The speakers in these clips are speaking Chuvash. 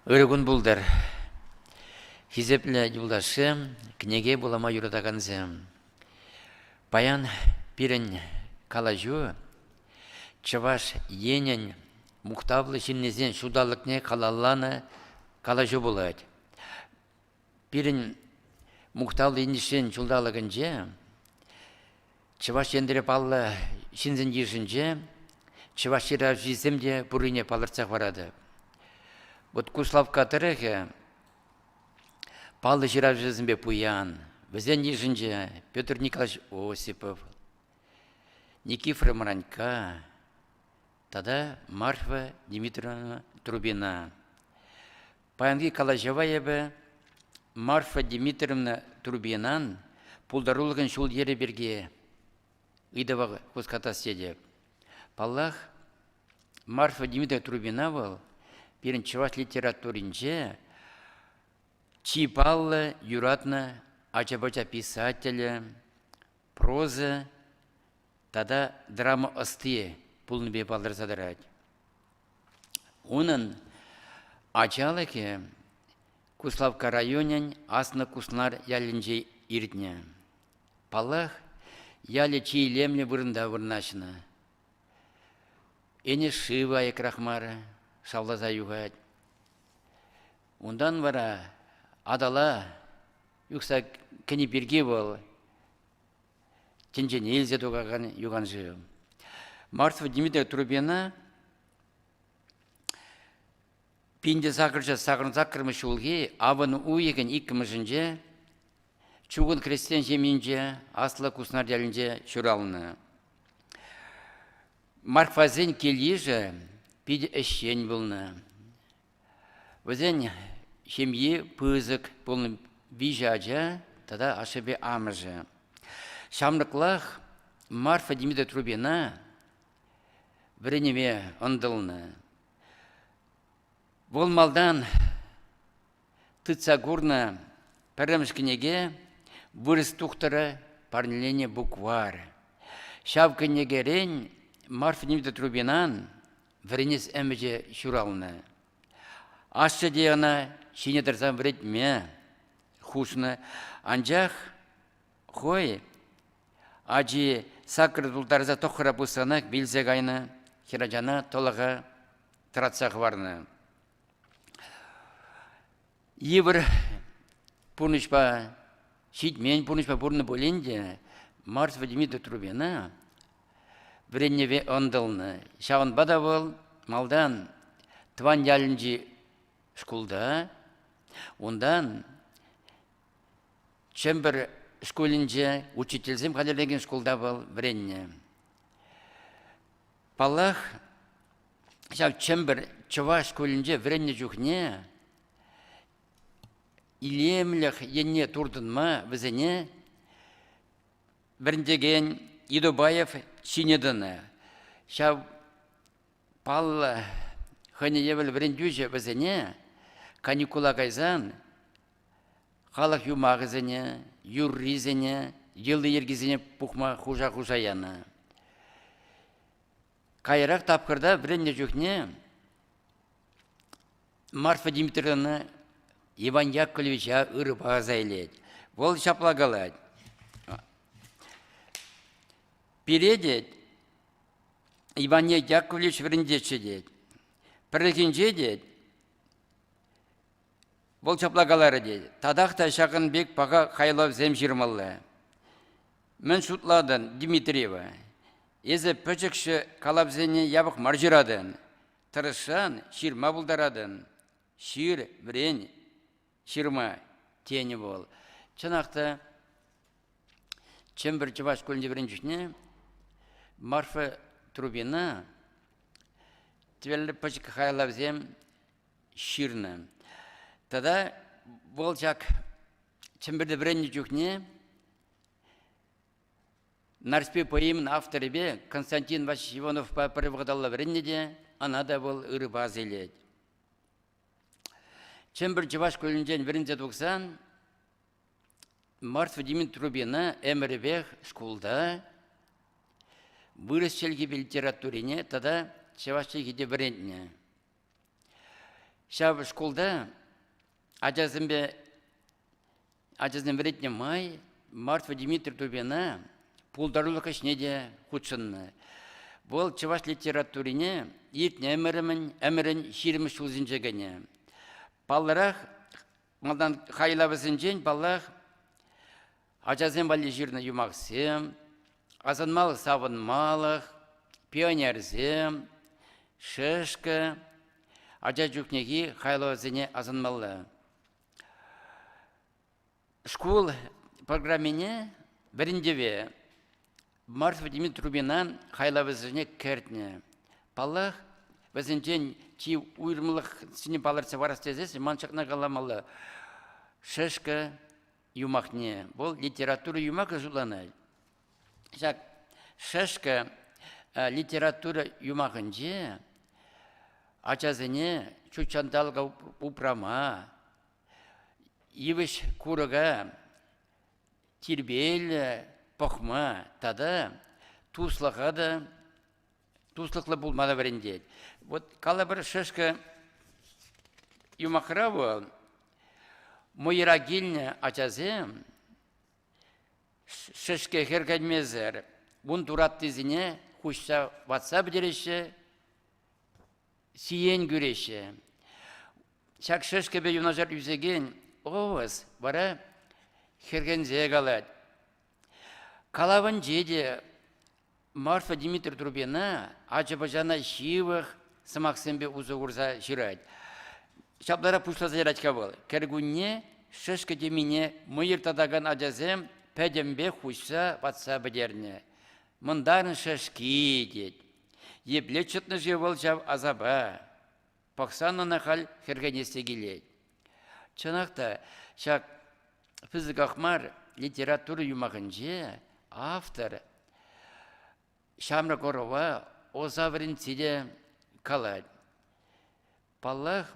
Ырӑ кун пултӑр, хисеплӗ юлташсем, кӗнеке вулама юратакансем. Паян пирӗн калаҫу Чӑваш Енӗн мухтавлӑ ҫыннисен ҫулталӑкне халалланӑ калаҫу пулать. Пирӗн Мухтавлӑ Енӗшсен ҫулталӑкӗнче Чӑваш Енре паллӑ ҫынсен йышӗнче чӑваш ҫыравҫисем те пуррине палӑртса хӑваратӑп. Вот Куславкка тӑрӑхӗ паллӑ ҫыравҫӑсемпе пуян. Вӗсен йышӗнче Петр Николаевич Осипов, Никифор Мранька тата Марфа Дмитриевна Трубина. Паянхи калаҫӑва эпӗ Марфа Дмитриевна Турбинан пултарулӑхӗн ҫул-йӗрӗ пирки ыйтӑва хускатас тетӗп. Паллах, Марфа Дмитриевна Трубина вӑл пирӗн чӑваш литературинче чи паллӑ, юратнӑ ача-пӑча писателӗ, проза тата драма ӑсти пулнипе палӑрса тӑрать. Унӑн ачалӑхӗ Куславкка районӗн Аслӑ Куснар ялӗнче иртнӗ. Паллах, ялӗ чи илемлӗ вырӑнта вырнаҫнӑ. Энӗш шыв аякрах мар шавласа юхать. Унтан вара Атала Юхса кӗни пирки вӑл тӗнчене илсе тухакан юханшыв. Мартва Дмитрий Трубина пинте сакӑрҫӑ сакӑрмӗш ҫулхи авӑн уйӑхӗн иккӗмӗшӗнче чугун хресчен ҫемйинче Аслӑ Куснар ялӗнче ҫуралнӑ. Марфасен кил-йышӗ питӗ ӗҫчен пулнӑ. Вӗсен ҫемйи пысӑк пулнӑ виҫӗ ача тата ашшӗпе амӑшӗ. Ҫамрӑклах Марфа Дмитриевна вӗренӗве ӑнтӑлнӑ. Вӑл малтан тытса курнӑ пӗрремӗш кӗнеке «Вырӑс тухтӑрӗ» парнеленӗ букварь. Ҫав кӗнекерен Марфа Дмитриевнан Вӗренес ӗмӗчӗ ҫуралнӑ. Ашшӗ те ӑна ҫине тӑрсан вӗретме хушнӑ, анчах хӑй ачи сакӑр тултарса тӑххӑра пусранах вилсе кайнӑ, хӗрачана тӑлӑха тӑратса хӑварнӑ. Йывӑр пурнӑҫпа, ҫитмен пурнӑҫпа пурӑннӑ пулин те Марс вӗтӗми Дотрубена вӗренӗве ӑнтӑлнӑ. Ҫавӑнпа та вӑл малтан тӑван ялӗнчи шкулта, унтан Чӗмпӗр шкулӗнче учительсем хатӗрлекен шкулта вӑл вӗреннӗ. Паллах, ҫав Чӗмпӗр чӑваш шкулӗнче вӗреннӗ чухне илемлӗх енне туртӑнма вӗсене вӗрентекен Идобаев ҫине тӑнӑ. Ҫав паллӑ хӑйне евӗр вӗрентӳҫӗ вӗсене каникула кайсан халӑх юмахӗсене, юррисене, йӑли-йӗркисене пухма хуша-хуша янӑ. Каярах тапхӑрта вӗреннӗ чухне Марфа Дмитриевна Иван Яковлевича ырӑпа аса илет. Вӑл ҫапла калать. Пире, тет, Иван Яковлевич вӗрентетчӗ, тет. Пӗррехинче, тет, Вӑл ҫапла каларӗ те, татах та ҫакӑн пек паха хайлавсем ҫырмалла. Мӗн шутлатӑн, Дмитриева? Эсӗ пӗчӗкҫӗ калавсене япӑх мар ҫыратӑн. Тӑрӑшсан ҫырма пултаратӑн. Ҫыр, вӗрен, ҫырма, тенӗ вӑл. Чӑнах та, Чӗмпӗр чӑваш шкулӗнче вӗреннӗ чухне Марфа Трубина тӗвеллӗ пӗчӗк хайлавсем ҫырнӑ. Тата вӑл ҫак Чӗмпӗрте вӗреннӗ чухне Нарспи поэмин авторӗпе Константин Васильевич Ивановпа пӗр вӑхӑталла вӗреннӗ те ӑна та вӑл ырӑпа асилет. Чӗмпӗр чӑваш шкулӗнчен вӗренсе тухсан Марс Владимир Трубина ӗмӗрӗпех шкулта вырӑс чӗлхи литературине тата чӑваш чӗлхи те вӗрентнӗ. Ҫав шкулта ачасемпе ачасем вӗрентнӗ май Мартва Дмитрий Тупина пултарулӑх ӗҫне те хутшӑннӑ. Вӑл чӑваш литературине иртнӗ ӗмӗрӗн ҫирӗмӗш ҫулсенче кӗнӗ. Палларах Малтан хайлавӗсенчен, паллах, ачасем валли ҫырнӑ юмахсем, асӑнмалӑх-савӑнмалӑх, пионерсем, шешкӗ, ача чухнехи хайлавсене асӑнмалла. Шкул программине вӗрентӗве Марс витӗмӗ трубина хайлавӗсене кӗртнӗ. Паллах, вӗсенчен чи уйрӑмлӑхсене палӑртса парас тесен ман ҫакна каламалла. Шешкӗ юмахне, вӑл литература юмахӗ шутланать. Ҫак шешкӗ литература юмахӗнче ачасене ҫут ҫанталӑка упрама, йывӑҫ курӑка тирпейлӗ пӑхма тата туслӑха та туслӑхлӑ пулма та вӗрентет. Вот калӑпӑр шешкӗ юмахра вӑл мӑйра килнӗ ачасем шешке хӗркенмесӗр ун тураттисене хуҫса ватса пӗтереҫҫӗ сиен кӳреҫҫӗ. Ҫак шӗшкӗпе юнашар ӳсекен овес вара хӗрхенсе калать. Калавӗнче те Марфа Дмитри Трубина ача-пӑчана ҫывӑх сӑмахсемпе усӑ курса ҫырать. Ҫапларах пуҫласа ярать-ха вӑл. Кӗркунне шӗшкӗ темине мӑйӑр татакан ачасем пӗтӗмпех хуҫса ватса пӗтернӗ. Мӑнтан шӗшки тет. Епле чӑтнӑ-ши вӑл ҫав асапа? Пӑхсан ӑна халь хӗрхенес те килет. Чӑнах та, ҫак пысӑках мар литература юмахӗнче автор ҫамрӑк ӑрӑва Оса вӗрентсе те калать. Паллах,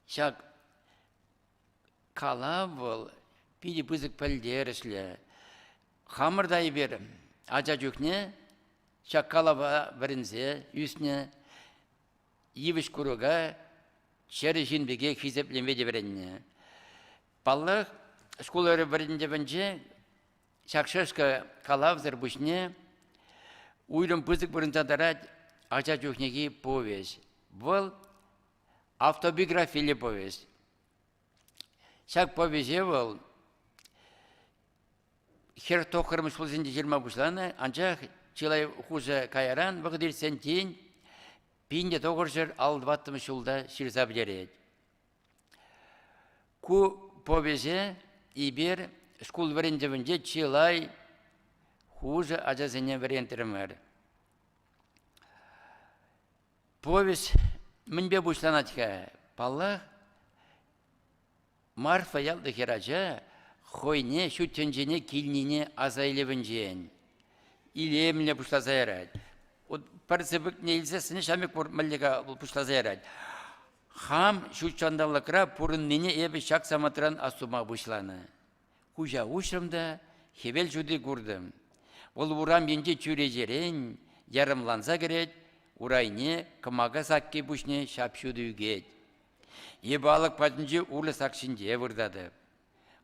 ҫак Калав вӑл питӗ пысӑк пӗлтерӗшлӗ. Хамӑр та эпир ача чухне ҫак калава вӗренсе ӳснӗ. Йывӑҫ курӑка чӗрӗ ҫын пекех хисеплеме те вӗреннӗ. Паллах, шкул вӗрентӗвӗнче ҫак шешка калавсӑр пуҫне уйрӑм пысӑк вырӑнта тӑрать ача чухнехи повеҫ. Вӑл Автобиографилле повесть. Ҫак повеҫе вӑл хӗр тӑххӑрмӗш ҫулсенче ҫырма пуҫланӑ, анчах чылай хушӑ каяран вӑхӑт иртсен тин пинне тӑхӑрҫӑр аллӑ-ваттӑмӗш ҫулта ҫырса пӗтерет. Ку повеҫе эпир шкул вӗрентӗвӗнче чылай хушӑ ачасене вӗрентрӗмӗр. Повесть мӗнпе пуҫланать-ха? Паллах, Марфа яллӑ хӗрача хӑйне ҫут тӗнчене килнине аса илӗвӗнчен илемлӗ пуҫласа ярать. пӗр сыпӑкне илсе сӗнӗ ҫамрӑк пур мӗнле-ха вӑл пуҫласа ярать. Хам ҫут ҫанталӑкра пурӑннине эпӗ ҫак самантран астума пуҫланӑ. Куҫа уҫрӑм та хӗвел ҫути куртӑм. Вӑл урам енчи чӳречерен ярӑмланса кӗрет, урайне кӑмака сакки пуҫне ҫап-ҫутӑ ӳкет. Эпӗ алӑк патӗнчи урлӑ сак ҫинче выртатӑп.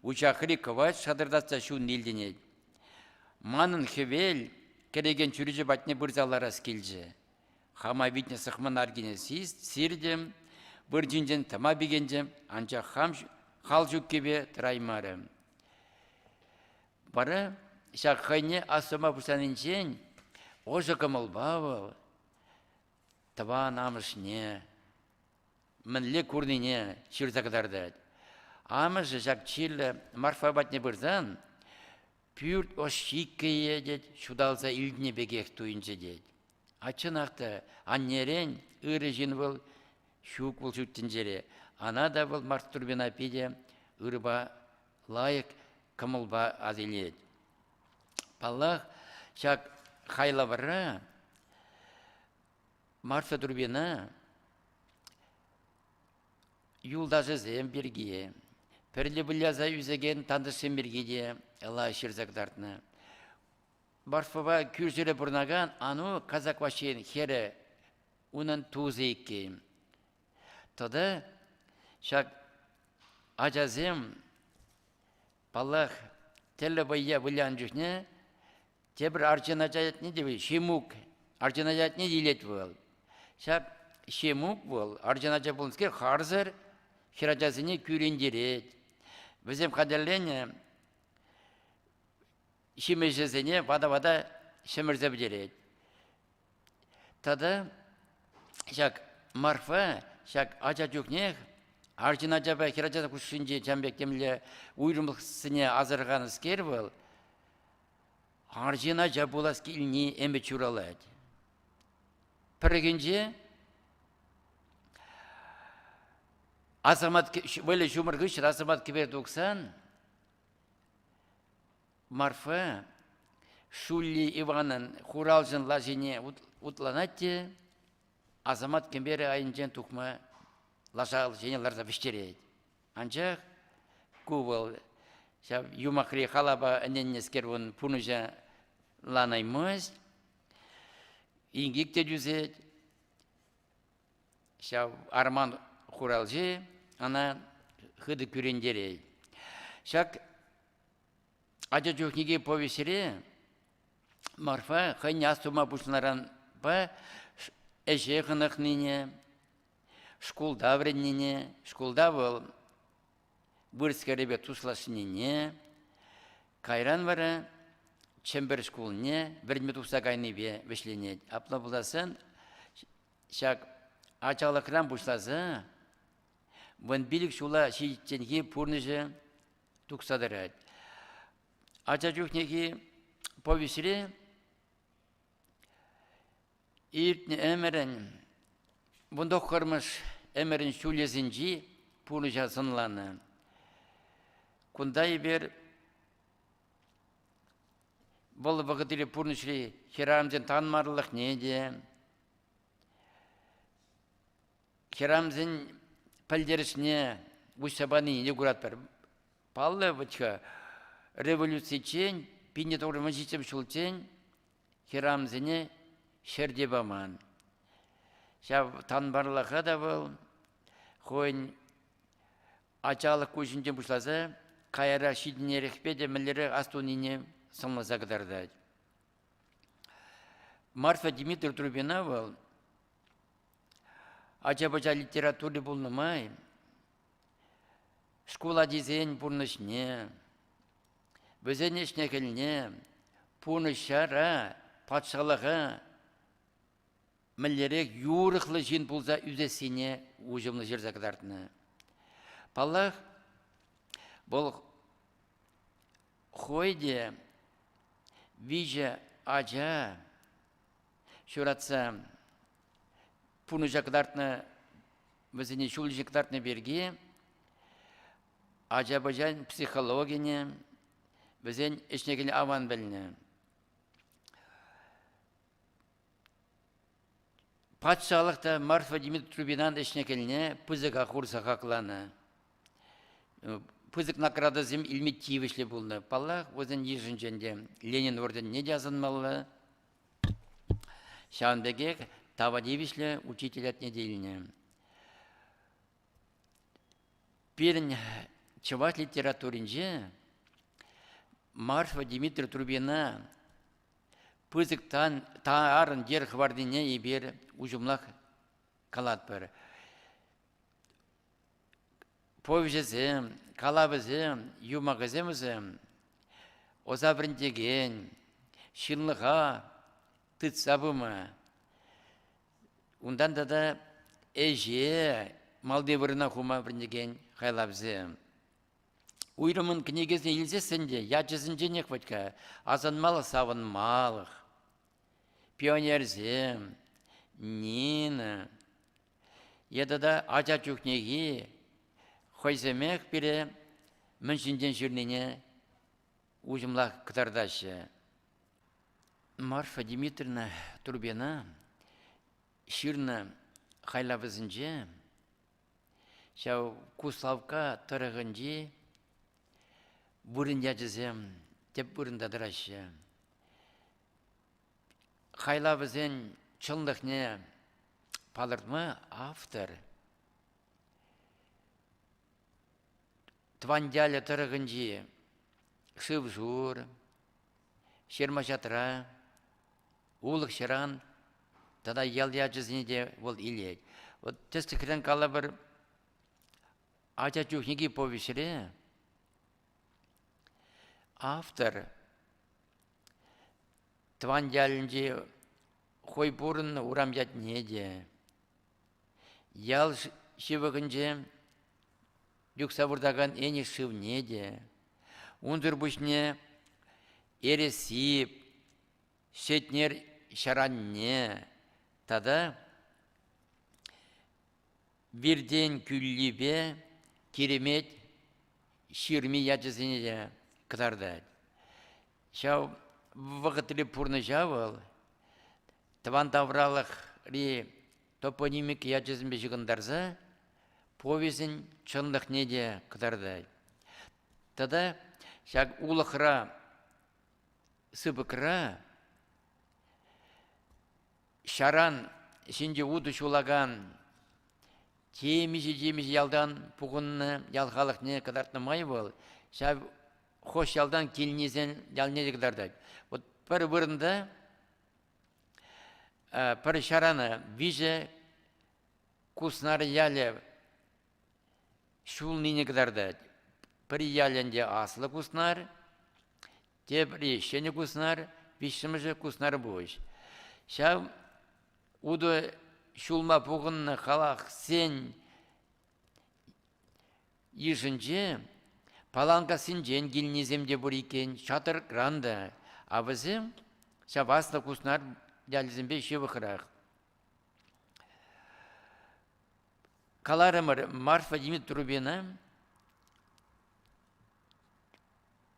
Учахри кӑвайт шатӑртатса ҫунни илтӗнет. Манӑн хӗвел кӗрекен чӳрече патне пырса ларас килчӗ. Хама витнӗ сӑхман аркине сиртӗм, выр ҫинчен тӑма пикенчӗ, анчах хам хал ҫуккипе тӑраймарӗ. Вара ҫак хӑйне астума пуҫланинчен ӑшӑ кӑмӑлпа вӑл тӑван амӑшне мӗнле курнине ҫырса кӑтартать. Амӑшӗ ҫак чирлӗ Марфа патне пырсан Пӳрт ӑш ҫиккӗйе тет, ҫуталса илтнӗ пекех туйӑнчӗ тет. Ачченах та, аннерен ырӑ ҫын вӑл, ҫук вӑл ҫут тӗнчере. Ана та вӑл Марстурбина питӗ ырӑпа, лайӑх кӑмӑлпа асилет. Паллах, ҫак хайлавра Марса Турбина Юлташӗсем пирки, пӗрле выляса ӳсекен тантӑшсем пирки те лайӑх ҫырса кӑтартнӑ. Барфӑпа кӳршӗре пурӑнакан Ану казак ваҫҫин хӗрӗ унӑн тусӗ иккен. Тата ҫак ачасем Паллах, тӗрлӗ вӑййа вылянӑ чухне тепӗр арҫын ача ятне те Ҫимук, арҫын ача ятне те илет вӑл. Ҫак Ҫимук вӑл арҫын ача пулнӑскер харсӑр хӗрачасене кӳрентерет. Вӗсем хатӗрленӗ ҫимӗҫӗсене вата-вата ҫӗмӗрсе пӗтерет. Тата ҫак Марфа ҫак ача чухнех арҫын ачапа хӗр ача хушшинче чам пек темле уйрӑмлӑхсене асӑрханӑскер вӑл арҫын ача пулас килни ӗмӗт ҫуралать. Пӗррехинче асамат вӑйлӑ ҫумӑр хыҫҫӑн асамат кӗпе тухсан Марфа Шулли Иванӑн хуралҫӑн лашине утланать те асамат кӗперӗ айӗнчен тухма лаша ҫине ларса вӗҫтерет. Анчах ку вӑл ҫав юмахри халапа ӗненнӗскер ун пурнӑҫланаймасть. Инкек те тӳсет. Ҫав арман хуралҫи ӑна хытӑ кӳрентерет. Ҫак ача чухнехи повеҫре Марфа хӑйне астума пуҫланӑранпа ӗҫе хӑнӑхнине, шкулта вӗреннине, шкулта вӑл вырӑс-кӗрӗпе туслашнине, кайран вара Чӗмпӗр шкулне вӗренме тухса кайнипе вӗҫленет. Апла пуласан Ҫак ачалӑхран пуҫласа вунпилӗк ҫула ҫитичченхи пурнӑҫӗ тухса тӑрать. Ача чухнехи повеҫре иртнӗ ӗмӗрӗн вунтӑххӑрмӗш ӗмӗрӗн ҫулӗсенчи пурнӑҫа сӑнланӑ. Кунта эпир Вӑл вӑхӑтри пурнӑҫри хӗрамсен танмарлӑхне те, хӗрамсен пӗлтерӗшне уҫса панине те куратпӑр. Паллӑ, вӑт-ха, революциччен, пинне тӑхӑр мӑн ҫиччӗмӗш ҫулччен хӗрамсене ҫӗрте паман. Ҫав танмарлӑха та вӑл хӑйӗн Ачалӑх куҫӗнчен пуҫласа каярах ҫитӗнерехпе те мӗнлерех астунине сӑнласа кӑтартать. Марфа Дмитриевна Трубина вӑл ача-пӑча литератури пулнӑ май шкул ачисен пурнӑҫне, вӗсен ӗҫне-хӗлне, пурнӑҫара, патшалӑха мӗнлерех юрӑхлӑ ҫын пулса ӳсессине уҫӑмлӑ ҫырса кӑтартнӑ. Паллах, вӑл хойде виҫӗ ача ҫуратса пурнӑҫа кӑтартнӑ, вӗсене ҫул ҫи кӑтартнӑ пирки ача-пӑчан психологине, вӗсен ӗҫне кӗнӗ аван пӗлнӗ. Патшалӑх та Марфа Дмитриевнан ӗҫне кӗлне пысӑка хурса хакланӑ. Пысӑк наградӑсем илме тивӗҫлӗ пулнӑ. Паллах, вӗсен йышӗнче ӗнтӗ Ленин орденне те асӑнмалла. Ҫавӑн пекех тава тивӗҫлӗ учитель ятне те илнӗ. Пирӗн чӑваш литературинче Марфа Дмитриевна пысӑк тарӑн йӗр хӑварнине эпир уҫӑмлах калатпӑр. Повеҫӗсем, калавӗсем, юмахӗсем вӗсем ӑса вӗрентекен, ҫынлӑха тытса пыма, унтан тата ӗҫе малти вырӑна хума вӗрентекен хайлавсем. Уйрӑмӑн кӗнекесене илсессӗн те ячӗсенченех вӗт-ха асӑнмалӑх савӑнмалӑх. Пионерсем, Нина е тата ача чухнехи хӑйсемех пире мӗн ҫинчен ҫырнине уҫӑмлах кӑтартаҫҫӗ. Марфа Дмитриевна Турбина ҫырнӑ хайлавӗсенче Ҫав Куславкка тӑрӑхӗнчи вырӑн ячӗсем тӗп вырӑнта тӑраҫҫӗ. Хайлавӗсен чӑнлӑхне палӑртма автор тӑван ялӗ тӑрӑхӗнчи шыв-шур, ҫырма-ҫатра, улӑх-ҫыран тата ял ячӗсене те вӑл илет. Вот тӗслӗхрен калӑпӑр, ача чухнехи повеҫре автор тӑван ялӗнчи хой пурӑннӑ урам ятне те, ял ҫывӑхӗнче юхса выртакан Энӗш шывне те, унсӑр пуҫне Эреси, Сетнер ҫӗранне тата Виртен кӳллипе Киремет ҫырми ячӗсене те кӑтартать. Ҫав вӑхӑтри пурнӑҫа вӑл тӑван тавралӑхри топонимика ячӗсемпе ҫыхӑнтарса повеҫӗн чӑнлӑхне те кӑтартать. Тата ҫак улӑхра сыпӑкра ҫаран ҫинче утӑ ҫулакан темиҫе-темиҫе ялтан пухӑннӑ ял халӑхне кӑтартнӑ май вӑл ҫав хӑш ялтан килнисен ялне те кӑтартать. Вот пӗр вырӑнта пӗр ҫарана виҫӗ Куснар ялӗ Ҫулнине кӑтартать. Пӗр ялӗ ӗнтӗ аслӑ Куснар, тепри Ҫӗнӗ Куснар, виҫҫӗмӗшӗ Куснарпуҫ. Ҫав утӑ ҫулма пухӑннӑ халахсен йышӗнче Паланкассинчен килнисем те пур иккен, Чатӑркран та. А вӗсем ҫав аслӑ Куснар ялӗсемпе ҫывӑхрах. Каларӑмӑр, Марфа Дмитровна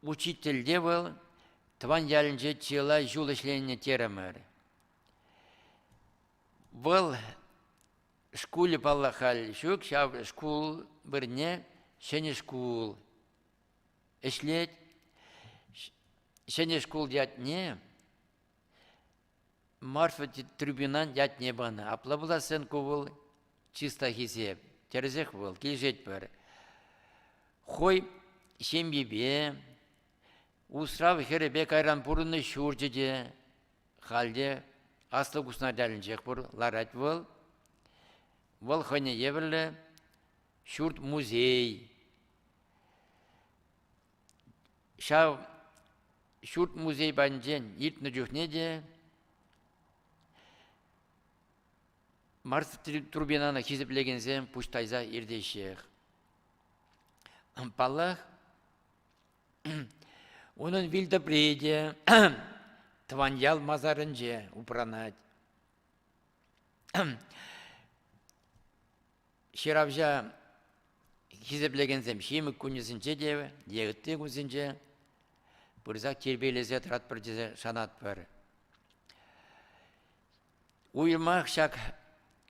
учительте вӑл тӑван ялӗнче чылай ҫул ӗҫленӗ терӗмӗр. Вӑл шкулӗ, паллах, халь ҫук, ҫав шкул вырне ҫӗнӗ шкул ӗҫлет. Ҫӗнӗ шкул ятне Марфа Трубинан ятне панӑ. Апла пуласшӑн ку вӑл чыста хисеп. Тӗрӗсех вӑл, килӗшетпӗр. Хой ҫемйипе, усрав хӗрӗпе кайран пурӑннӑ ҫурчӗ те халӗ аслӑ Куснарьялӗнчех пур, ларать вӑл. Вӑл хӑйне евӗрлӗ ҫурт-музей, ҫав ҫурт музей патӗнчен иртнӗ чухне те марс турбинана хисеплекенсем пуҫ тайса иртеҫҫех. Паллах, унӑн вилтӑпри те тӑван ял масарӗнче упранать. Ҫыравҫа хисеплекенсем ҫимӗк кунӗсенче те е ытти кунсенче пырсах тирпейлесе тӑратпӑр тесе шанатпӑр. Уйрӑмах ҫак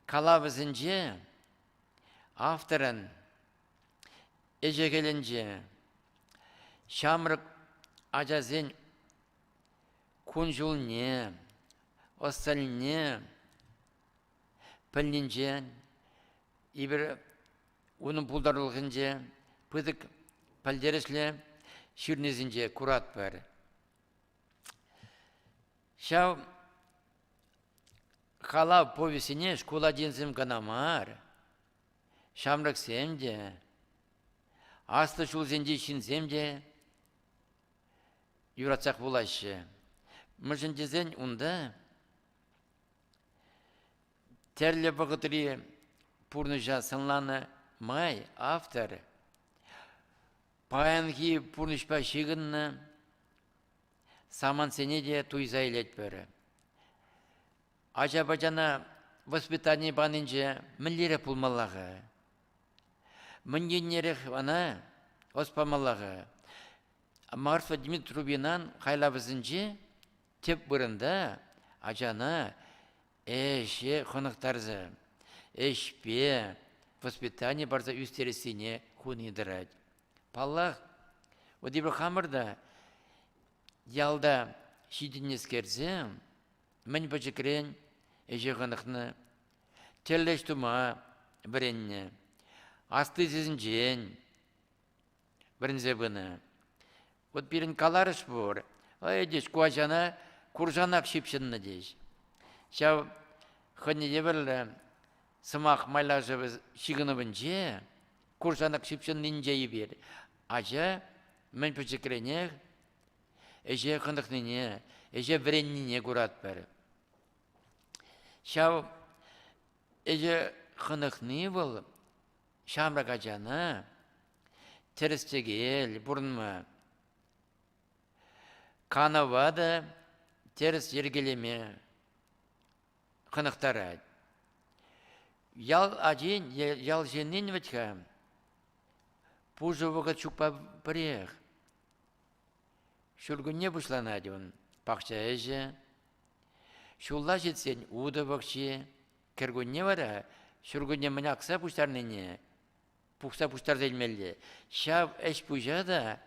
калавӗсенче авторӑн ӗҫӗ-хӗлӗнче ҫамрӑк ачасен кун-ҫулне, ӑс-тӑнне пӗлнинчен, эпир унӑн пултарулӑхӗнче пысӑк пӗлтерӗшлӗ ҫырнисенче куратпӑр. Ҫав халав повестьне шкул ачисем кӑна мар, ҫамрӑксем те, аслӑ ҫулсенчи ҫынсем те юратсах вулаҫҫӗ. Мӗншӗн тесен унта Тӗрлӗ вӑхӑтри пурнӑҫа сӑнланӑ май автор паянхи пурнӑҫпа ҫыхӑннӑ самантсене те туйса илетпӗр. Ача-пӑчана воспитани панинче мӗнлерех пулмалла-ха? Мӗн еннерех ӑна ӑс памалла-ха? Марфа Дмитриевнан хайлавӗсенче тӗп вырӑнта ачана ӗҫе хӑнӑхтарса, ӗҫпе воспитани парса ӳстерессине хуни тӑрать. Паллах, вот эпир хамӑр та ялта ҫитӗннӗскерсем мӗн пӗчӗкрен ӗҫе хӑнӑхнӑ, тӗллӗш тума вӗреннӗ. Асли сисӗнчен вӗренсе пынӑ. Вот пирӗн каларӑш пур, эй тӗс ку ачана куршанак ҫыпҫӑннӑ тӗс. Ҫав хӑйне евӗрлӗ сӑмах майлашӑвӗ ҫыхӑнӑвӗнче куршанак ҫыпҫӑннинче эпир ача мӗн пӗчӗкренех ӗҫе хӑнӑхнине, ӗҫе вӗреннине куратпӑр. Ҫав ӗҫе хӑнӑхни вӑл Ҫамрӑк ачана тӗрӗс-тӗкел пурӑнма, канӑва та тӗрӗс йӗркелеме хӑнӑхтарать. Ял ачин, ял ҫыннин вӗт-ха пушӑ вӑхӑт ҫукпа пӗрех. Ҫуркунне пуҫланать ун, пахча ӗҫӗ, ҫулла ҫитсен утӑ пахчи, Кӗркунне вара ҫуркунне мӗн акса пуҫтарнине пухса пуҫтарса илмелле. Ҫав ӗҫ-пуҫа та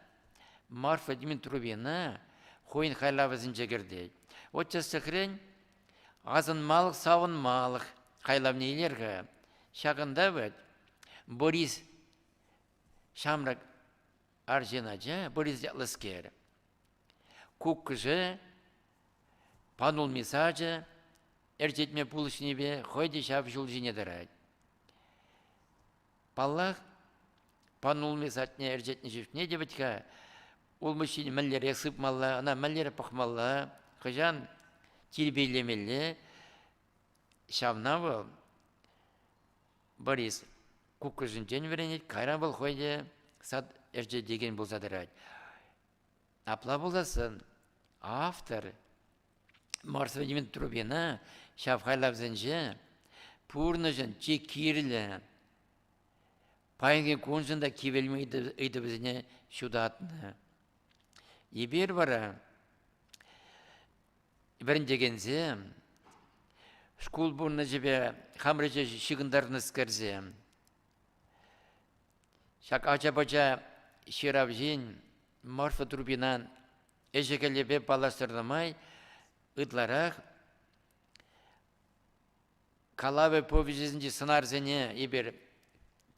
Марфа Дмитровина хӑйӗн хайлавӗсенче кӗртет. Вот тӗслӗхрен, асӑнмалӑх, савӑнмалӑх хайлавне илер-ха. Ҫакӑнта вӗт Борис ҫамрӑк арҫын ача, Борис ятлӑскер, Куккӑшӗ панулми сачӗ ӗрчетме пулӑшнипе хӑй те ҫав ҫул ҫине тӑрать. Паллах, панулми садне ӗрчетнӗ чухне те вӗт-ха улмуҫҫин мӗнлере сыпмалла, ӑна мӗнлере пӑхмалла, хӑҫан тирпейлемелле. Ҫавна вӑл Борис куккӑшӗнчен вӗренет, кайран вӑл хӑй те сад ӗрчетекен пулса тӑрать. Апла пуласӑн, автор Марс вӗтемен трубина ҫав хайлавсенче пурнӑҫӑн чи кирлӗ паянхи куншӑн та кивелме ыйтӑвӗсене ҫутатнӑ. Эпир вара вӗрентекенсем, шкул пурнӑҫӗпе хамӑр ӗҫе ҫыхӑнтарнӑскерсем, ҫак ача-пӑча ҫыравҫин Марфа Трубинан ӗҫӗ-хӗлӗпе паллаштарнӑ май ытларах калавӗ повеҫӗсенчи сӑнарсене эпир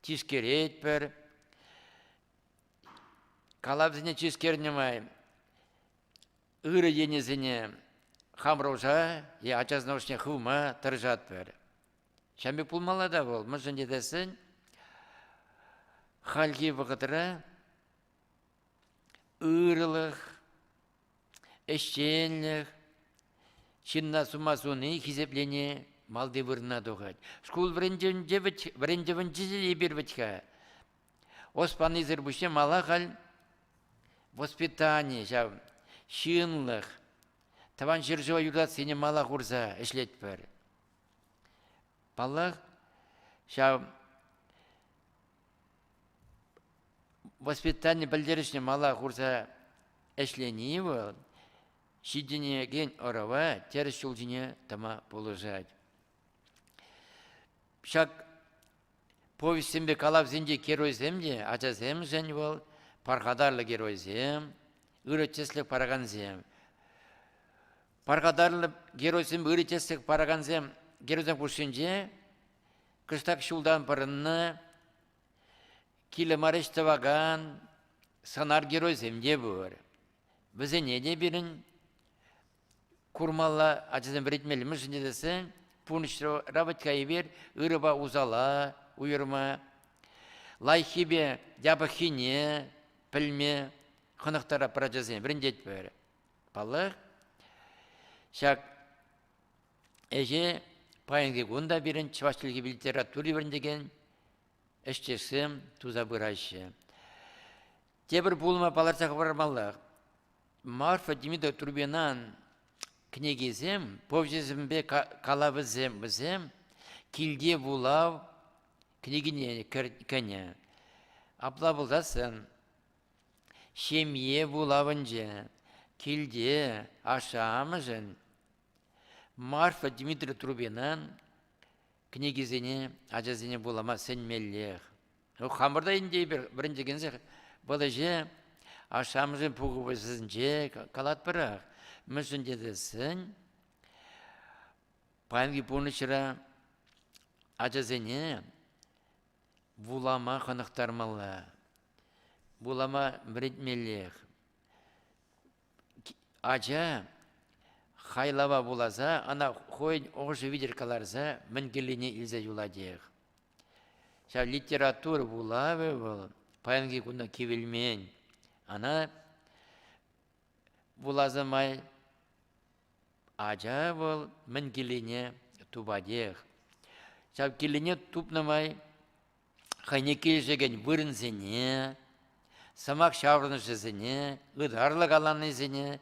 тишкеретпӗр. Калавсене тишкернӗ май ырӑ енӗсене хамӑрӑша е ача сӑнавҫӑсене хывма тӑрӑшатпӑр. Ҫавӑн пек пулмалла та вӑл. Мӗншӗн тесен хальхи вӑхӑтра ырӑлӑх, ӗҫченлӗх, ҫынна сума суни, хисеплени малти вырӑна тухать. Шкул вӗрентӗвӗнче эпир вӗт-ха Ос панисӗр пуҫне мала халь воспитани ҫав, ҫынлӑх, тӑван ҫӗршыва юратассине мала хурса ӗҫлетпӗр. Паллах, ҫав воспитани пӗлтерӗшне мала хурса ӗҫлени вӑл ҫитӗнекен ӑрӑва тӗрӗс ҫул ҫине тӑма пулӑшать. Ҫак Повеҫсемпе калавсенчи геройсем те ачасемшӗн вӑл пархатарлӑ геройсем, ырӑ тӗслӗх паракансем. Пархатарлӑ геройсем, ырӑ тӗслӗх паракансем геройсем хушшинче кӑштах ҫултан пӑрӑннӑ, килӗ мар ӗҫ тӑвакан сӑнар геройсем те пур. Вӗсене те пирӗн Курмалла, ачасем вӗрентмелле мӗншӗн тесен пурнӑҫра вӑт-ха эпир ырӑпа усала уйӑрма, лайӑххипе япӑххине пӗлме хӑнӑхтараппӑр ачасем, вӗрентетпӗр. Паллах, ҫак ӗҫе паянхи кун та пирӗн чӑваш чӗлхи литератури вӗрентекен ӗҫчешсем туса пыраҫҫӗ. Тепӗр пулӑма палӑртса хӑвармаллах. Марфа Демидова Турбинан кӗнекисем, повеҫӗсемпе калавӗсем вӗсем килте вулав кӗнекине кӗнӗ. Апла пулсассӑн ҫемье вулавӑнче килте ашшӗ-амӑшӗн Марфа Дмитриевна Трубинан кӗнекисене ачасене вулама сӗнмеллех. Хамӑрта ӗнтӗ эпир вӗрентекенсех вӑл ӗҫе ашшӗ-амӑшӗн пухӑвӗсенче калатпӑрах. Мӗншӗн тесен паянхи пурнӑҫра ачасене вулама хӑнӑхтармалла, вулама вӗрентмеллех. Ача хайлава вуласа ӑна хӑйӗн ӑшӑ витӗр кӑларса мӗн кирлине илсе юлатех. Ҫав литература вулавӗ вӑл паянхи куна кивелмен. Ана вуласа май ача вӑл мӗн килене тупатех. Ҫав килене тупнӑ май хӑйне килӗшекен вырӑнсене, сӑмах ҫаврӑнӑшӗсене, ытарлӑ каланисене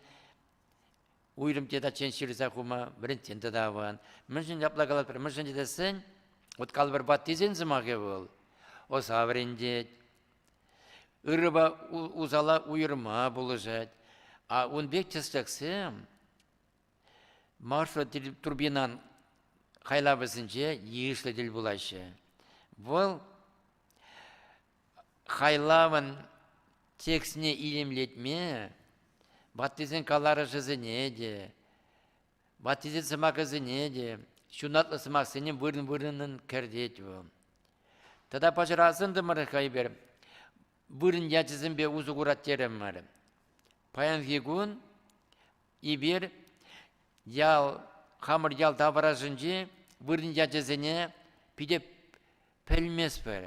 уйрӑм тетачен ҫырса хума вӗрентен тата аван. Мӗншӗн апла калатпӑр, мӗншӗн тесен вот калӑпӑрпа тесен сӑмахӗ вӑл оса вӗрентет, ырӑпа усала уйӑрма пулӑшать. А ун пек тӗслӗхсем маршрут турбинан хайлавӗсенче йышлӑ тӗл пулаҫҫӗ. Вӑл Хайлавӑн текстне илемлетме ваттисен каларӑшӗсене те, ваттисен сӑмахӗсене те, ҫунатлӑ сӑмахсене вырӑн-вырӑнӑн кӗртет вӑл. Тата пӑчӑрасӑнтӑмӑр хӑй-пӗр вырӑн ячӗсемпе усӑ курать терӗмӗр. Паянхи кун эпир ял, хамӑр ял таврашӗнчи вырӑн ячӗсене питӗ пӗлместпӗр.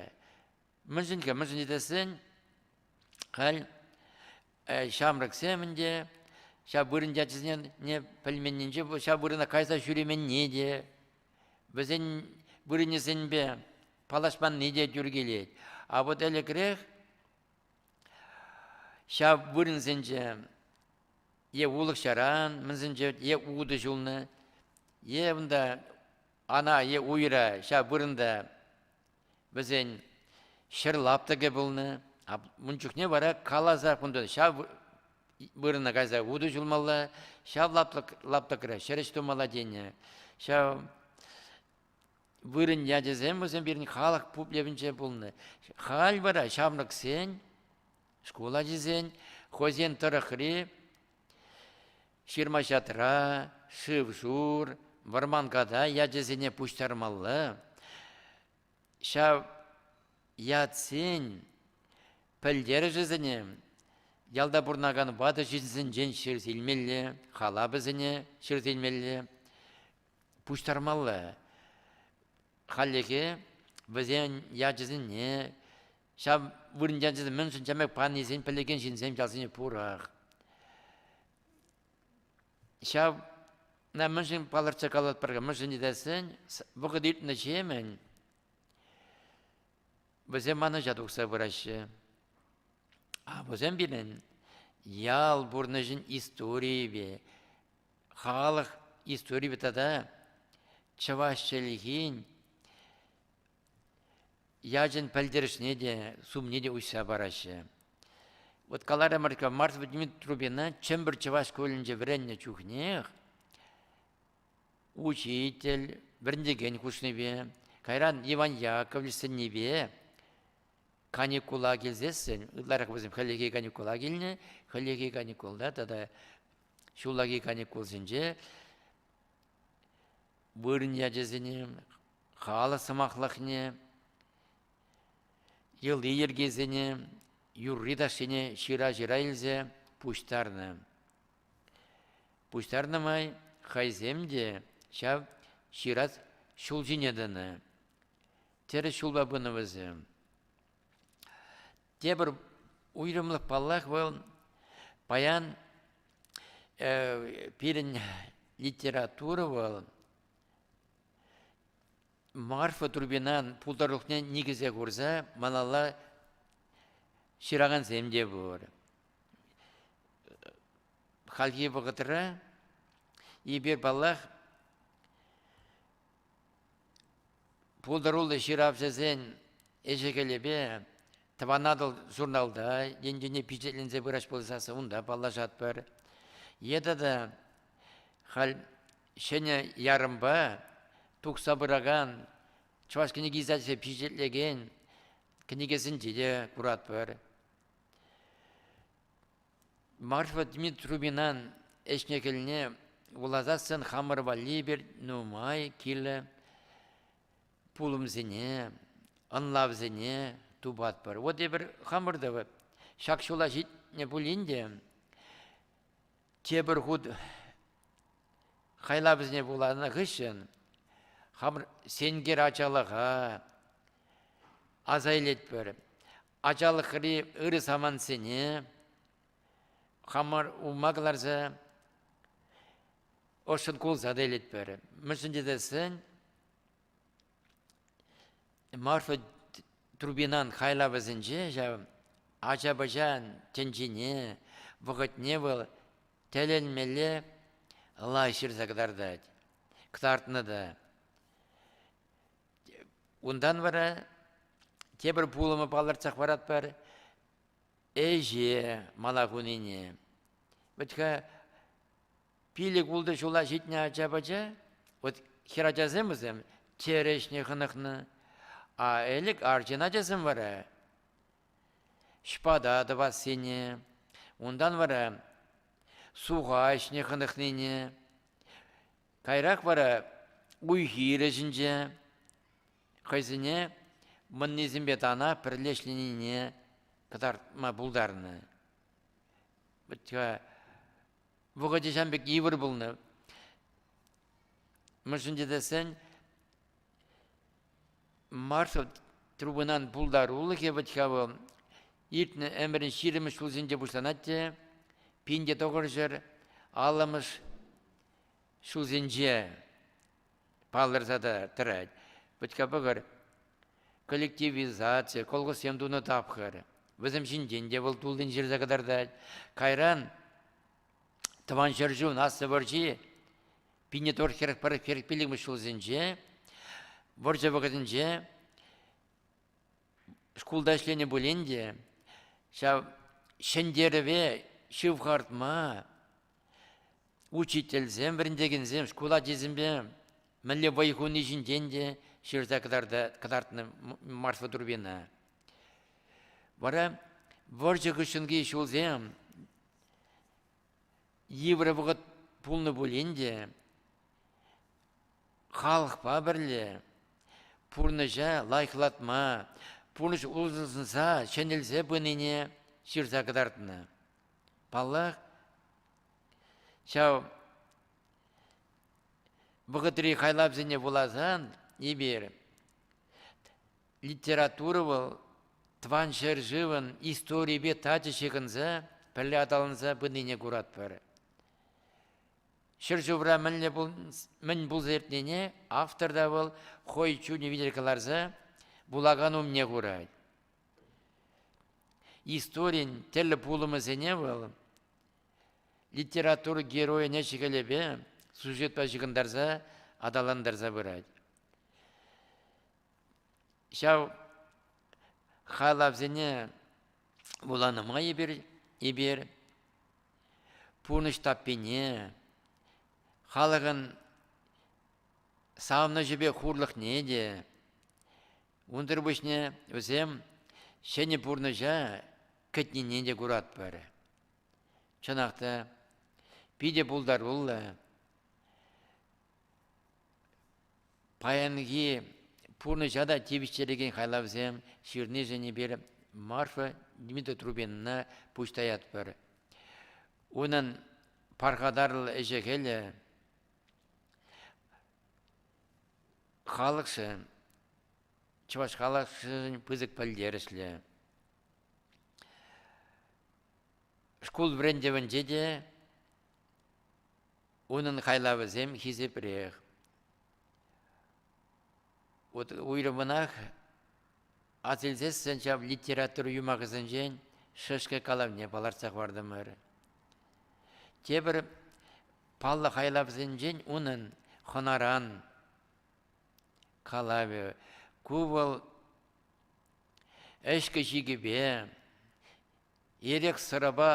Мӗншӗн-ке? Мӗншӗн тесен халь ҫамрӑксем ӗнтӗ ҫав вырӑн ячӗсене пӗлменнинче ҫав вырӑна кайса ҫӳременни те, вӗсен вырӑнӗсемпе паллашманни те тӳр килет. А вот ӗлӗкрех ҫав вырӑнсенче е улӑх-ҫаран, мӗнсенче, е утӑ ҫулнӑ, е унта Ана е уйра ҫав вырӑнта вӗсен ҫӗр лаптӑкӗ пулнӑ. Ун чухне вара каласах унтан ҫав вырӑна кайса утӑ ҫулмалла, ҫав лаптӑк, лаптӑкра ҫӗрӗҫ тумалла тенӗ. Ҫав вырӑн ячӗсем вӗсем пирӗн халӑх пуплевӗнче пулнӑ. Халь вара ҫамрӑксен, шкул ачисен хӑйсен тӑрӑхри Ҫырма-ҫатра, шыв-шур, вӑрманката ячӗсене пуҫтармалла. Ҫав ятсен пӗлтерӗшӗсене ялта пурӑнакан ватӑ ҫынсенчен ҫырса илмелле, халапӗсене ҫырса илмелле, пуҫтармалла. Хальлӗхе вӗсен ячӗсене Ҫав вырӑнти ачасем мӗншӗн чамек панисен пӗлекен ҫынсем ялсене пурах. Ҫав мӗншӗн палӑртса калатпӑр-ха, мӗншӗн тесен вӑхӑт иртнӗҫемӗн вӗсем манӑҫа тухса пыраҫҫӗ. А вӗсем пирӗн ял пурнӑҫӗн историйӗпе, халӑх историйӗпе тата чӑваш чӗлхин Ячӗн пӗлтерӗшне те, сумне те уҫса параҫҫӗ. Вот каларӑмӑр-ка, Марфа Дмитриевна Чӗмпӗр чӑваш шкулӗнче вӗреннӗ чухнех учитель, вӗрентекен хушнипе, кайран Иван Яковлевич сӗннипе каникула килсессӗн, ытларах вӗсем хӗллехи каникула килнӗ, хӗллехи каникулта тата ҫуллахи каникулсенче вырӑн ячӗсене, халӑх сӑмахлӑхне, йӑли-йӗркисене, юрри-ташшине ҫыра-ҫыра илсе пуҫтарнӑ. Пуҫтарнӑ май хӑйсем те ҫав ҫырас ҫул ҫине тӑнӑ. Тӗрӗс ҫулпа пынӑ вӗсем. Тепӗр уйрӑмлӑх, паллах, вӑл паян э, пирӗн литература вӑл Марфа Трубинан пултарулӑхне никӗсе курса малалла ҫыракансем те пур. Хальхи вӑхӑтра эпир, паллах, пултаруллӑ ҫыравҫӑсен ӗҫӗ-хӗлӗпе Тӑван Атӑл журналта енчен пичетленсе пырас пулса унта паллашатпӑр. Е тата халь ҫӗнӗ ярӑмпа тухса пыракан чӑваш кӗнеке издательство пичетлекен кӗнекесенче те куратпӑр. Марфа Дмитриевнан ӗҫне кӗлне вуласассӑн хамӑр валли пир нумай килӗ пулӑмсене, ӑнлавсене тупатпӑр. Вот эпир хамӑр та ҫак ҫула ҫитнӗ пулин те тепӗр хут хайлавӗсене вуланӑ хыҫҫӑн хамӑр сенкер ачалӑха аса илетпӗр. Ачалӑхри ырӑ самантсене хамӑр ума кӑларса ӑшшӑн кулса та илетпӗр. Мӗншӗн тесен Марфа Трубинан хайлавӗсенче ҫав ача-пӑча тӗнчине, вӑхӑтне вӑл тӗлӗнмелле лай ҫырса кӑтартать, кӑтартнӑ та. Унтан вара тепӗр пулӑму палӑртсах паратпӑр ӗҫе мала хунине. Вӗт-ха Пилӗк-ултӑ ҫула ҫитнӗ ача-пӑча, вот хӗрачасем вӗсем, чӗрӗ ӗҫне хӑнӑхнӑ. А ӗлӗк арҫын ачасем вара ҫпата тӑвассине, унтан вара суха ӗҫне хӑнӑхнине, кайрах вара уй-хир ӗҫӗнче хӑйсене мӑннисемпе тана пӗрле ӗҫленине кӑтартма пултарнӑ. Вот вӑхӑчӗ ҫam пек йывӑр пулнӑ. Мӗншӗн тесен маршрут трубӑнан пултарулӑхӗ вӗт-ха вӑл иртнӗ ӗмӗрӗн ҫирӗммӗш ҫулсенче пуҫланать те пин те тӑкӑрҫӗр аллӑмӗш ҫулсенче палӑрса та тӑрать. Пӑтька пӑкӑр коллективизаци, колхозсем тунӑ тапхӑр. Вӗсем ҫинчен те вӑл туллин ҫырса кӑтартать. Кайран Тӑван ҫӗршывӑн Аслӑ вӑрҫи пинӗ тор хӗрӗх пӗрӗх хӗрӗх пиллӗкмӗш ҫулсенче вӑрҫӑ вӑхӑтӗнче шкулта ӗҫленӗ пулин те ҫав ҫӗнтерӗве ҫывхартма учительсем, вӗрентекенсем шкул ачисемпе мӗнле вӑй хуни ҫинчен те ҫырса кӑтартнӑ Марфа Турбина. Вара вӑрҫӑ хыҫҫӑнхи ҫулсем йывӑр вӑхӑт пулнӑ пулин те халӑхпа пӗрле пурнӑҫа лайӑхлатма, пурнӑҫ улшӑнса, ҫӗнелсе пынине ҫырса кӑтартнӑ. Паллах, Ҫав вӑхӑтри хайлавсене вуласан эпир литература вӑл тӑван ҫӗршывӑн историйӗпе тачӑ ҫыхӑнса пӗрле аталанса пынине куратпӑр. Ҫӗршывра мӗнле мӗн пулса иртнине автор та вӑл хӑй чунӗ витӗр кӑларса вулакан умне хурать. Историн тӗрлӗ пулӑмӗсене вӑл Литература геройне ҫӗкӗлепе сюжетпа ҫыхӑнтарса аталантарса пырать. Ҫав халавсене вуланӑ май эпир, эпир пурнӑҫ таппине, халӑхӑн савӑнӑҫӗпе хурлӑхне те, унсӑр пуҫне вӗсем ҫӗнӗ пурнӑҫа кӗтнине те куратпӑр. Чӑнах та, питӗ пултаруллӑ. Паянхи пурнӑҫа та тивӗҫтерекен хайлавсем ҫырнишӗн эпир Марфа Дмитриевна пуҫ таятпӑр. Унӑн пархатарлӑ ӗҫӗ-хӗлӗ халӑхшӑн, чӑваш халӑхшӑн пысӑк пӗлтерӗшлӗ. Шкул вӗрентӗвӗнче те унӑн хайлавӗсем хисепрех. Уйрӑмӑнах асилсессӗн ҫав литература юмахӗсенчен шӗшкӗ калавне палӑртса хӑвартӑмӑр. Тепӗр паллӑ хайлавсенчен унӑн хӑнаран калавӗ. Ку вӑл ӗҫкӗ-ҫикӗпе, эрех-сӑрапа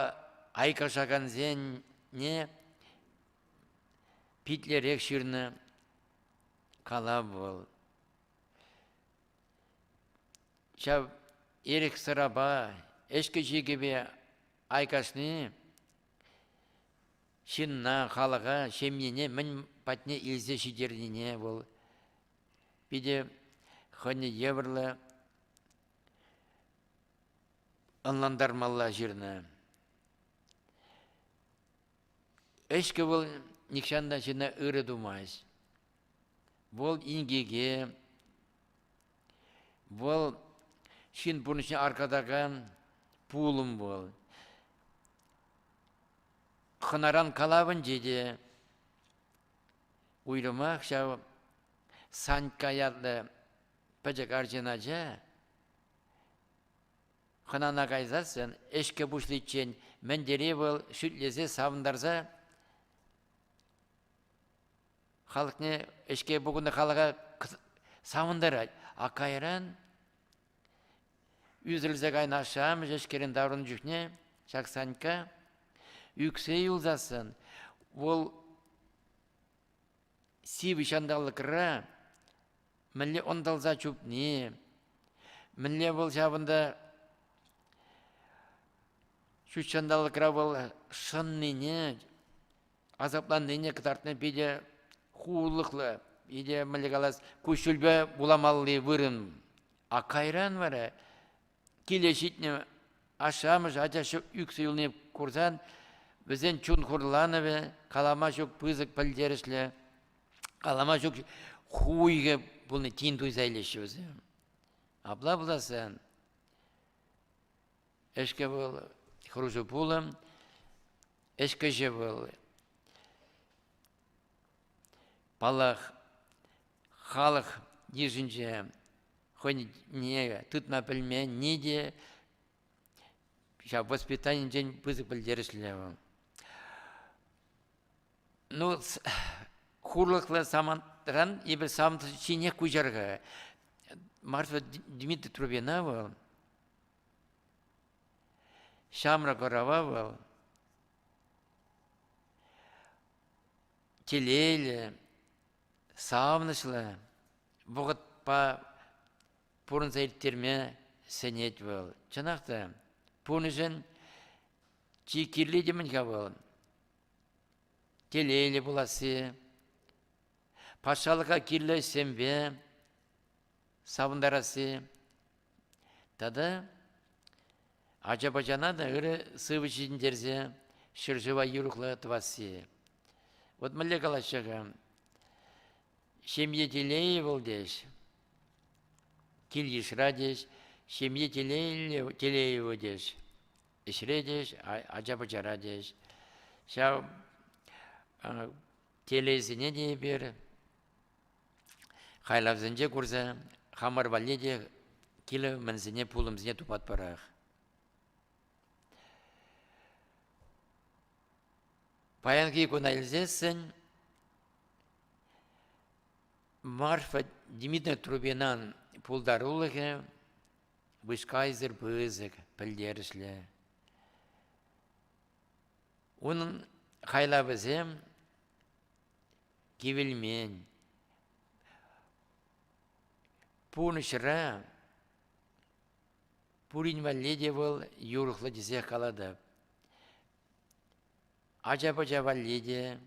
айкашакансене питлерех ҫырнӑ калав вӑл. Ҫав эрех-сӑрапа, ӗҫкӗ-ҫикӗпе айкашни Ҫынна, халӑха, ҫемьене мӗн патне илсе ҫитернине вӑл питӗ хӑйне евӗрлӗ ӑнлантармалла ҫырнӑ. Ӗҫкӗ вӑл нихҫан та ҫынна ырӑ тумасть. Вӑл инкеке, вӑл ҫын пурнӑҫне аркатакан пулӑм вӑл. хӑнаран калавӗнче те уйрӑмах ҫав Санькка ятлӑ пӗчӗк арҫын ача хӑнана кайсассӑн ӗҫкӗ пуҫличчен мӗн тери вӑл шӳтлесе савӑнтарса халӑхне ӗҫке пухӑннӑ халӑха савӑнтарать а кайран Ӳсӗлсе кайнӑ ашшӗ-амӑшӗ-ҫке таврӑннӑ чухне ҫак Санька ӳксе юлсассӑн вӑл сивӗ ҫанталӑкра мӗнле ӑнтӑлса чупни, мӗнле вӑл ҫавӑнта ҫут ҫанталӑкра вӑл шӑннине асапланнине кӑтартни питӗ хуллӑхлӑ, питӗ мӗнле калас, куҫҫульпе вуламалли вырӑн. А кайран вара киле ҫитнӗ ашшӗ-амӑшӗ ача ӳксӗ юлни курсан вӗсен чун хурланӑвӗ калама ҫук пысӑк пӗлтерӗшлӗ, калама ҫук хуйхӑ пулни тин туйса илеҫҫӗ вӗсем. Апла пулассан Ӗҫкӗ вӑл хӑрушӑ пулӑм, ӗҫкӗҫӗ вӑл паллах, халӑх йышӗнче хӑйне тытма пӗлменни те ҫав воспитанинчен пысӑк пӗлтерӗшлӗ вӑл. Ну, хурлӑхлӑ самантран эпир самант ҫинех куҫар-ха. Марфа Дмитриевна вӑл Ҫамрӑк ӑрӑва вӑл телейлӗ, савӑнӑҫлӑ вӑхӑтпа пурӑнса ирттерме сӗнет вӑл. Чӑнах та, пурнӑҫӑн чи кирли темӗн-ха вӑл. Телейлӗ пуласси, патшалӑха кирлӗ ӗҫсемпе савӑнтарасси, Тата ача-пӑчана та ырӑ сывӑ ҫитӗнтерсе ҫӗршыва юрӑхлӑ тӑвасси. Вот мӗнле калаҫҫӗ-ха? Ҫемье телейӗ вӑл теҫ, кил-йышра теҫ, ҫемье телейлӗ, телейӗвӗ теҫ, ӗҫре теҫ, ача-пӑчара теҫ. Ҫав телейсене те эпир Хайлавсенче курса хамӑр валли те килӗ-мӗнсене, пулӑмсене тупатпӑрах. Паянхи куна илсессӗн Марфа Дмитриевна Трубинан пултарулӑхӗ вышкайсӑр пысӑк, пӗлтерӗшлӗ. Унӑн хайлавӗсем кивелмен. Пурнӑҫра пурин валли те вӑл юрӑхлӑ тесе калатӑп. Ача-пӑча валли те,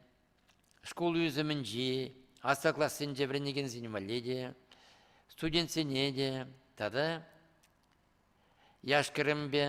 шкул ӳсӗмӗнчи аслӑ классенче вӗренекенсен валли те, студентсене те тата яш-кӗрӗмпе